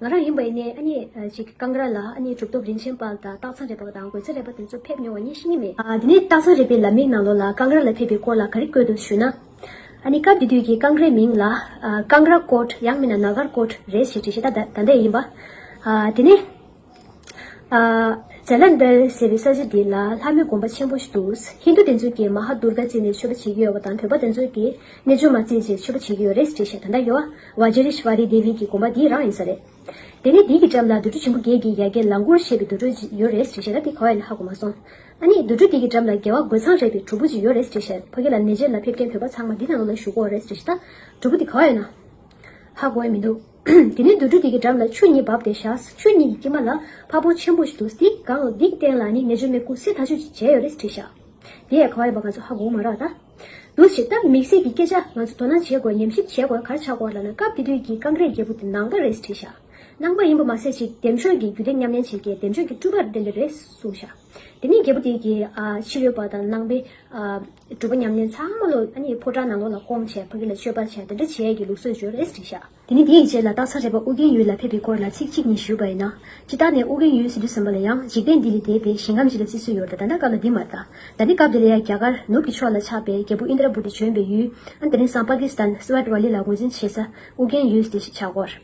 ང་རང་ཡིན་པ་ཡིན་ནའི་ཨ་མྱེས་ཀྱི་རྐང་འགར་ལ་ཨ་མྱེས་གྲུབ་ཐོབ་རིན་ཆེན་དཔལ་དང་སྟག་ཚང་རས་པ་དང་རྒོད་ཚེ་རས་པ་དེ་ཚོ་ཕེབས་མྱོང་བ་ངས་ཤེས་ཀྱི་མེད། དེ་ནས་སྟག་ཚང་རས་པའི་ལམ་མིག་ནང་ལོགས་ལ་རྐང་འགར་ལ་ཕེབས་པའི་སྐོར་ལ་ག་རེ་བཀོད་འདུག་ཞུས་ན། ཨ་ནི་སྐབས་དེ་དུས་ཀྱི་རྐང་འགརའི་མིང་ལ། རྐང་ར་ཀོར། ཡང་མིན་ན་ནག་གར་ཀོར་རེད་ཞེས་བྲིས་ཤེས་ད་ལྟ་འདི་ཡིན་པ། དེ་ནས། Jalandhar། ཟེར་བའི་ས་ཆ་འདི་ལ་ལྷ་མོའི་དགོན་པ་ཆེན་པོ་ཞིག་འདུག་ཧིན་རྡུ་དེ་ཚོས་ཀྱིས་མ་ཧཱ་དུར་ག་བརྩིས་ནས་མཆོད་པ་བྱེད་ཀྱི་ཡོད་པ་དང་བོད་པ་དེ་ཚོས་ཀྱིས་རྣལ་འབྱོར་མ་བརྩིས་རྗེས་མཆོད་པ་བྱེད་ཀྱི་ཡོད་རེད་ཅེས་བཤད་ད་ལྟ་ཡོ Vajreshwari Devi གྱི་དགོན་པ་འདི་རང་ཡིན་ས་རེད། དེ་ནས་དེའི་གྱི་འགྲམ་ལ་དུར་ཁྲོད་ཆེན་པོ་བརྒྱད་ཀྱི་ཡ་གྱལ་ལང་གུར་ཞེས་པའི་དུར་ཁྲོད་ཅིག་ཡོད་རེད་ཅེས་བཤད་ད་དེ་ག་བས་ལ་ཧ་གོ་མ་སོང། ཨ་ནི་དུར་ཁྲོད་དེའི་གྱི་འགྲམ་ལ་རྒྱལ་བ་རྒོད་ཚང་རས་པའི་གྲུ་བོ་ཅིག་ཡོད་རེད་ཅེས་བཤད་ཕ་གི་ལ་ནེ་ཇེར་ལ་ཕེབས་མཁན་བོད་པ་ཚང་མ་འདི་ནང་ལ་བཞུགས་གོ་རེད་ཅེས་བཤད་ད་གྲུ་བོ་དེ་ག་བས་ན་ཧ་གོ་ཡ་མི་འདུག། དེ་ནས་དུད་འགྲོ་དེ་གའི་འགྲམ་ལ་ཆུ་གཉིས་བབས་ཏེ་བཞགས། ཆུ་གཉིས་ཀྱི་དཀྱིལ་མ་ལ་ཕ་བོང་ཆེན་པོ་ཞིག་འདུག་འདི་གང་ལགས་འདི་སྟེང་ལ་ནི་མེ་ཆུ་མེ་ཀུ་སི་ཐ་ཆུ་གཅིག་བྱས་ཡོད་རེད་དྲིས་བཞག། དེ་ཡས་ཁ་བ་ཡིན་པ་ང་ཚོ་ཧ་གོ་མ་རག་ད། འདུག་བྱས་སྟབས་མིག་ཟས་ཀྱི་སྐད་ཆ་ང་ཚོ་དོ་སྣང་བྱེད་དགོས་ཉམས་ཞིབ་བྱེད་དགོས་གར་ཆག་དགོས་ལབ་ན་སྐབས་དེ་དུས་ཀྱི་ཀང་རའི་རྒྱལ་པོ་དེ་ནང་པ་རེད་དྲིས་བཞག། ནང་པ་ཡིན་པ་མ་ཟད་ཅིག་འདེམས་ཤོག་གི་རྒྱུ་དེ་མཉམ་ལེན་བྱེད་མཁན་འདེམས་ཤོག་གི་སྤྲུལ་པར་འདེམས་པའི་རེད་གསུངས་བཞག། དེ་ནས་རྒྱལ་པོ་དེས་ཀྱི་ཕྱི་རོལ་པ་དང་ནང་པའི་སྒྲུབ་པ་ཉམས་ལེན་ཚང་མ་ལོ་ཕོ་བྲང་ནང་ལོགས་ལ་སྐོང་བྱས་ཕ་གི་ལ་མཆོད་པར་བྱས་དེ་འདྲ་བྱས་ཀྱི་ལུགས་སྲོལ་འབྱོར་རེས་བྲིས་ཤག། དེ་ནས་དེ་ཡི་རྗེས་ལ་སྟག་ཚ་རལ་པ་ཨུ་རྒྱན་ཡུལ་ལ་ཕེབས་པའི་སྐོར་ལ་ཚིག་གཅིག་གཉིས་ཞུས་པ་ཡིན་ན། ཅི་ལྟར་ནས་ཨུ་རྒྱན་ཡུལ་ཟིན་དུས་ཟམ་པ་ལ་ཡང་འཇིག་རྟེན་འདི་ལས་འདས་པའི་ཞིང་ཁམས་ཅིག་ལ་བརྩི་སྲོལ་ཡོད་ད་ད་ལྟ་སྐབས་ལ་འདི་མ་གཏད་ད་ནི་སྐབས་དེ་ལ་ཡང་རྒྱ་གར་ནུབ་ཀྱི་ཕྱོགས་ལ་ཆགས་པའི་རྒྱལ་པོ་ཨིནྡྲ་བུ་ཏི་བྱོན་པའི་ཡུལ། དེ་ནི་སང་པ་ཀི་སི་ཐན་སི་བྷ་ཏི་བྷ་ལི་ལ་ངོས་འཛིན་བྱེད་ས་ཨུ་རྒྱན་ཡུལ་ཟིན་ཞེས་བྱ་སྐོར།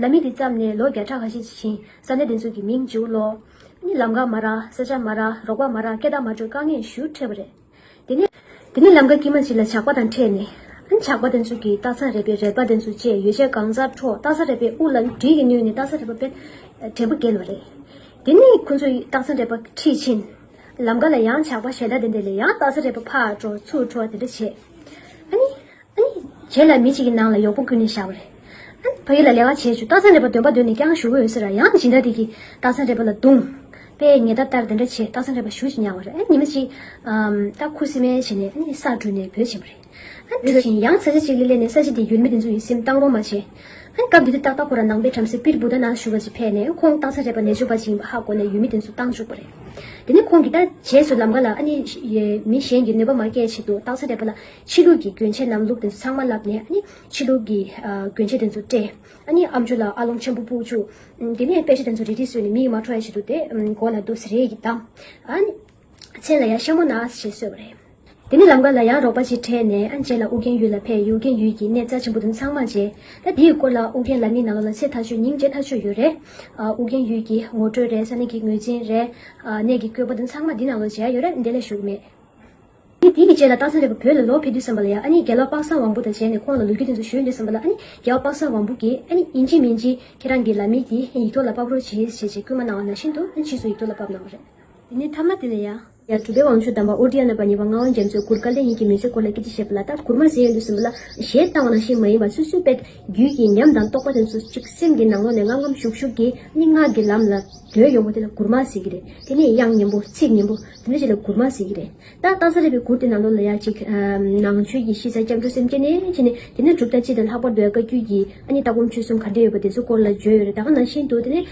ལ་མི་དེ་བརྩམས་ནས་ལོ་བརྒྱ་ཕྲག་ཁ་ཤས་ཀྱི་བྱིན་ཟ་ནས་དེ་ཚོ་གི་མིང་བྱིའུ་ལོ། ནི་ལམ་ག་མ་ར་ས་ཆ་མ་ར་རོག་པ་མ་ར་སྐད་བརྡ་མ་འགྲོས་དཀའ་ངས་ཞུ་ཁྲེས་པ་རེད། དེ་ནས། དེ་ནས་ལམ་ག་ཀྱི་མ་གཅིག་ལ་ཇག་པ་དང་ཕྲད་ནས། ཨན་ཇག་པ་དེ་ཚོ་གི་སྟག་ཚང་རལ་པའི་རལ་པ་དེ་ཚོ་བཅས་ཡོ་བྱད་གང་ཟག་འཕྲོག་སྟག་ཚང་རལ་པའི་དབུ་ལ་གྲིས་ཀྱི་བསྣུན་ནས་སྟག་ཚང་རལ་པ་པའི་བྲན་པོ་བརྒྱལ་བ་རེད། དེ་ནས་ཁོ་ཚོ་ཡིས་སྟག་ཚང་རལ་པ་ཁྲིད་ཕྱིན། ལམ་ག་ལ་ཡང་ཇག་པ་ཞལ་ལྡ་དེ་འདས་ལས་ཡང་སྟག་ཚང་རལ་པ་ཕར་འགྲོ་ཚུར་འགྲོ་བ་དེ་འདྲ་བྱས། ཨ་ནི། བྱས་ལ་མི་གཅིག་གི་ནང་ལ་ཡོག་པོ་ཀུན་ནས་བཞག་པ་རེད། ཕ་ཡུལ་ལ་ལས་ཀ་བྱས་བྱུང་རྟགས་མཚན་རེ་བ་འདོན་པ་འདོན་ནས་ཀྱང་བཞུགས་ཀྱི་ཡོད་ཟེར་ར་ཡང་སྦྱིན་བདག་དེ་གིས་རྟགས་མཚན་རེ་བ་ལ་རྡུང། པས་ངེད་ད་ལྟར་དེ་འདྲ་བྱས་རྟགས་མཚན་རེ་བ་བཞུགས་ཅི་སྙམ་བ་རེད་ཉི་མ་གཅིག། སྟག་ཁུ་སི་མན་བྱས་ནས་ས་བྲུས་ནས་བོད་ཕྱིན་པ་རེད། དེ་བཞིན་ཡང་ས་གཞི་གཅིག་ལས་སླེ་ནས་ས་གཞི་དེ་ཡུལ་མི་དེ་ཚོ་ཡི་སེམས་གཏང་རོགས་མ་བྱས། སྐབས་དེ་དུས་སྟག་སྟག་ཁོ་ར་ནང་པའི་བྲམ་ཟེ་པིར་བུ་ད་ནང་བཞུགས་པ་ཅིག་ཕེབས་ནས་ཁོང་རྟགས་མཚན་རེ་བ་ནད་བཅོས་པ་ཅིག་ཡིན་པ་ཧ་གོ་ནས་ཡུལ་མི་དེ་ཚོ་བཏང་བཅུག་པ་རེད། དེ་ནས་ཁོང་གིས་ད་བྱས་སུ་ལམ་ཀ་ལ་མི་གཞན་གྱི་གནོད་པ་མ་སྐྱེལ་ཆེད་དུ་རྟགས་མཚན་རེ་བ་ལ་ཕྱི་ལུགས་ཀྱི་གྱོན་ཆས་རྣམས་ལུག་དེ་ཚོ་ཚང་མ་བསླབས་ནས་ནི་ཕྱི་ལུགས་ཀྱི་གྱོན་ཆས་དེ་ཚོ་སྤྲས། ཨ་ཨམ་ཆུ་ལ་ཨ་ལོང་ཆེན་པོ་སྤུག་བྱུག། དེ་ནས་དཔེ་ཆ་དེ་ཚོ་རེ་རེ་བཟོས་ནས་མི་ཡི་མ་ཁྲོ་ཡ་ཞིག་འདུག་སྟེ་མགོ་ལ་དུག་སེ་རེ་ཡིས་བསྡམས། མཚན་ལ་ཡང་ཤ་མོ་ན་ཞེས་གསོལ་བ་རེ། དེ་ནས་ལམ་ཀ་ལ་ཡང་རོགས་པ་ཅིག་འཕྲད་ནས་རྗེས་ལ་ཨུ་རྒྱན་ཡུལ་ལ་ཕེབས་ཡུལ་རྒན་ཡུལ་གྱི་གནས་རྩ་ཆེན་པོ་དེ་ཚང་མ་མཇལ། ད་དེའི་སྐོར་ལ་ཨུ་རྒྱན་ལ་མི་ནང་ལོག་ལ་ཚེ་ཐག་ཆོད་སྙིང་རྗེ་ཐག་ཆོད་ཡོད་རེད། ཨུ་རྒྱན་ཡུལ་གྱི་ངོ་སྤྲོད་རེད་ས་གནས་ཀྱི་ངོས་འཛིན་རེད། གནས་ཀྱི་བཀོད་པ་དེ་ཚང་མ་འདི་ནང་ལོག་མཇལ་ཡོད་རེད་འདི་ལས་ཞུགས་མེད། ངས་དེ་གི་རྗེས་ལ་སྟག་ཚ་ལྷའི་བུ་བོད་ལ་ལོག་ཕེབས་དུས་བསམ་པ་ལ་ཡང་ཨ་ནི་རྒྱལ་བ་དཔག་བསམ་དབང་པོ་དང་མཇལ་ནས་ཁོང་ལ་ལོ་རྒྱུས་དེ་ཚོ་ཞུས་འདི་བསམ་པ་ལ་ཨ་ནི་རྒྱལ་བ་དཔག་བསམ་དབང་པོ་གིས་ཨ་ནི་ཡིན་གཅིག་མིན་གཅིག་ཁྱེད་རང་གི་ལ་མི་དེ་ཡིག་ཐོག་ལ་དཔག་རོགས་གྱིས་ཞེས་ཅེས་བསྐུལ་མ་གནང་བ་ན་ཤིན་ཏུ་ཨ་ཕྱིས་སུ་ཡིག་ཐོག་ལ་དཔག་གནང་བ་རེད། དེ་ནས་ཐ་མ་དེ་ལ་ཡ། ཡང་གྲུབ་པའི་བང་ཆུ་དམ་པ་ཨོ་རྡི་ཡ་ནོད་པ་ཉེ་བར་མངའ་བ་རྒྱ་མཚོས་གུར་དཀར་ལས་ཉིད་ཀྱི་མི་ཚེ་སྐོར་ལ་སྐད་ཅིག་བཤད་པ་ལ་སྟག་གུར་མར་ཟེར་ཡོད་འདུག་བསམ་པ་ལ་གཞན་བཏང་བ་ནང་བཞིན་མ་ཡིན་པར་སུ་སུའི་དཔལ་རྒྱུད་ཀྱི་ཉམས་དང་རྟོགས་པ་དེ་ཚོ་གཅིག་སེམས་ཀྱི་ནང་ལོགས་ནས་ངམ་ངམ་ཤུགས་ཤུགས་ཀྱིས་ཨ་ནི་ངག་གི་ལམ་ལ་བརྡོལ་ཡོང་བ་དེ་ལ་གུར་མར་ཟེར་གྱི་རེད་དེ་ནས་དབྱངས་སྙན་པོ་ཚིག་སྙན་པོ། དེ་ནས་ཆེ་ལ་གུར་མ་ཟེར་གྱི་རེད་ད། རྟ་ཟ་རེད་པའི་གུར་དེ་ནང་ལོགས་ལ་ཡག་ཅིག། ནང་ཆོས་ཀྱི་གཤིས་ས་སྐྱབས་འགྲོ་སེམས་སྐྱེ་ནས་ཕྱིན་ནས། དེ་ནས་གྲུབ་མཐའ་སྤྱི་དང་ལྷག་པར་དུ་ཡང་བཀའ་བརྒྱུད་ཀྱི་ཨ་ནི་ལྟ་སྒོམ་ཆོས་གསུམ་ག་འདྲེ་ཡོད་པ་དེ་ཚོ་སྐོར་ལ་བརྗོད་ཡོད་རེད་ད་ག་ནང་ཤེས་འདུག་དེ་ནས།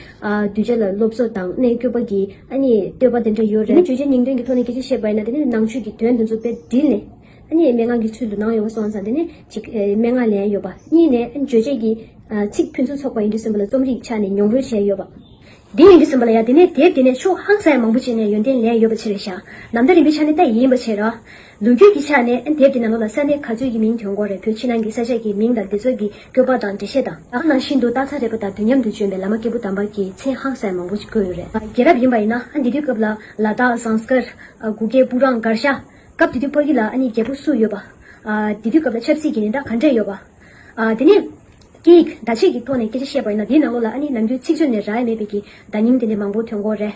གདུལ་བྱ་ལ་སློབ་གསོ་དང་གནས་སྐྱོབ་པ་ཀྱི་ཨ་ནི་བསྟོད་པ་དེ་འདྲ་ཡོད་རེད། དེ་ནས་བརྗོད་བྱའི་སྙིང་དོན་གྱི་ཐོག་ནས་སྐད་ཆ་བཤད་པ་ཡིན་ན་དེ་ནས་ནང་ཆོས་ཀྱི་དོན་དེ་ཚོ་དཔེ་དྲིལ་ནས། ཨ་ནི་མན་ངག་གི་ཚུལ་དུ་ནང་ཡོད་པ་སོང་ཙང་དེ་ནས་གཅིག། མན་ངག་ལན་ཡོད་པ། གཉིས་ནས་ཨ་ནི་བརྗོད་བྱེད་ཀྱི། ཚིག་ཕུན་སུམ་ཚོགས་པ་ཡིན་དུས་གསུངས་པ་ལ་རྩོམ་རིག་ཆ་ནས་མྱོང་རོལ་བྱས་ཡོད་པ། འདི་ཡིན་གྱི་ཟིན་པ་ལ་ཡང་དེ་ནས་དེབ་དེ་ནས་ཕྱོགས་ཧང་སངས་མང་པོ་བྱས་ནས་ཡོན་ཏན་ལས་ཡོད་པ་ཆེ་བའི་ཞག་ནམ་ཟླ་རིམ་པའི་ཆ་ནས་ལྟ་ཡི་ཡིན་པ་བྱས་རོགས། ལོ་རྒྱུས་ཀྱི་ཆ་ནས་དེབ་དེ་ནང་ལོ་ལ་ས་གནས་ག་ཚོད་ཀྱི་མིང་གྱོན་གོ་རེ་བོད་ཕྱི་ནང་གི་ས་ཆ་གྱི་མིང་དང་དེ་ཚོ་གི་སྐྱོ་པ་དང་འགྲེལ་བཤད་དང། ད་ནང་བཞིན་དུ་རྟགས་མཚན་རེད་པ་དང་དུས་མཉམ་དུ་བྱོན་པའི་བླ་མ་སྐྱེས་བུ་དམ་པ་ཀྱི་མཚན་ཧང་སངས་མང་པོ་བཀོད་ཡོད་རེད། རྒྱལ་རབས་ཡིན་པ་ཡིན་ན་འདི་དུས་སྐབས་ལ་ལ་དྭགས་ཟངས་དཀར། གུ་གེ་སྤུ་རང་མགར་ཤ། སྐབས་དེ་དུས་སྤར་གི་ལ་ནི་རྒྱལ་པོ་སུ་ཡོད་པ། དེ་དུས་སྐབས་ལ་ཆབ་སྲིད་ཀྱི་ནི་ད་ག་འདྲས་ཡོད་པ། དེ་ནས། སྐད་ཡིག་བརྡ་ཆད་ཀྱི་ཐོག་ནས་སྐད་ཆ་བཤད་པ་ཡིན་ན་དེའི་ནང་ལོགས་ལ་ཨ་ནི་ནམ་རྒྱུན་ཚིག་མཛོད་ནས་རག་ཡ་མེད་པའི་གི་བརྡ་རྙིང་དེ་འདྲའི་མང་པོ་ཐོན་གོ་རེད།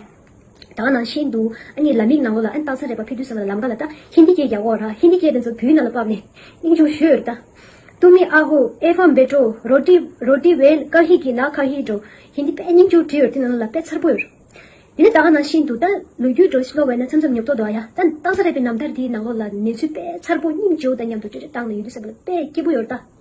ད་ག་ནང་ཤེས་འདུག་ཨ་ནི་ལ་མིག་ནང་ལོགས་ལ་ཨ་ནི་སྟག་ཚང་རེད་པ་ཕེ་ཐུའི་ཟེར་བ་ལ་ལམ་ཀ་ལ་ལྟ་ཧིན་དི་སྐད་རྒྱག་གོ་རག་ཧིན་དི་སྐད་དེ་ཚོ་བུའི་ནང་ལ་བབས་ནས་སྙིང་ཆུང་བཞུ་ཡོད་རེད་ད། ཏུ་མི་ཨ་ཧུ་ཨེ་ཧྥམ་བེ་ཀྲོ་རོ་ཏི་རོ་ཏི་བེ་ཀ་ཧི་གི་ནག་ཁ་ཧི་ཀྲོ་ཧིན་དི་པད་སྙིང་ཅུང་བྲིས་ཡོད་དེ་ནང་ལོགས་ལ་དཔེ་མཚར་པོ་ཡོད་རེད། དེ་ནས་ད་ག་ནང་ཤེས་འདུག་ད་ལོ་རྒྱུས་འགྲོ་ཤློ་བས་ན་མཚམས་མཚམས་ཉོབ་ཐོག་འདུག་ཨ་ཡ་ད་སྟག་ཚང་རེད་པའི་ནམ་ཐར་དེའི་ནང་ལོགས་ལ་གནས་ཚུལ་དཔེ་མཚར་པོ་སྙིང་ཅུང་དང་མཉམ་དུ་བྲིས་རེ་བཏང་ནས་ཡོད་དེ་ཟེར་བ་ལ་དཔེ་སྐྱིད་པོ་ཡོད་རེད་ད།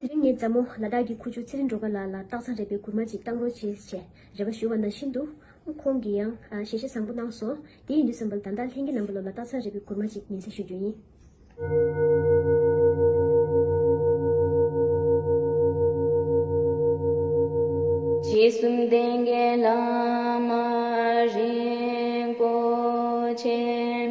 དེ་རིང་ངས་མཛའ་མོ་ལ་དྭགས་ཀྱི་ཁུ་བྱུག་ཚེ་རིང་འགྲོ་ག་ལགས་ལ་སྟག་ཚང་རས་པའི་གུར་མ་ཅིག་བཏང་རོགས་བྱེད་ཅེས་རེ་བ་ཞུ་བ་ན་ཤིན་ཏུ། ཁོང་གིས་ཡང་ཞལ་བཞེས་བཟང་པོ་གནང་སོང། དེ་ཡིན་དུས་བསམ་པར་ད་ལྟ་ལྷན་གྱི་ལམ་བུ་ལོ་ལ་སྟག་ཚང་རས་པའི་གུར་མ་ཅིག་ཉན་སའི་ཞུ་རྒྱུ་ཡིན། རྗེ་བཙུན་བསྟན་རྒྱས་བླ་མ་རིན་པོ་ཆེ།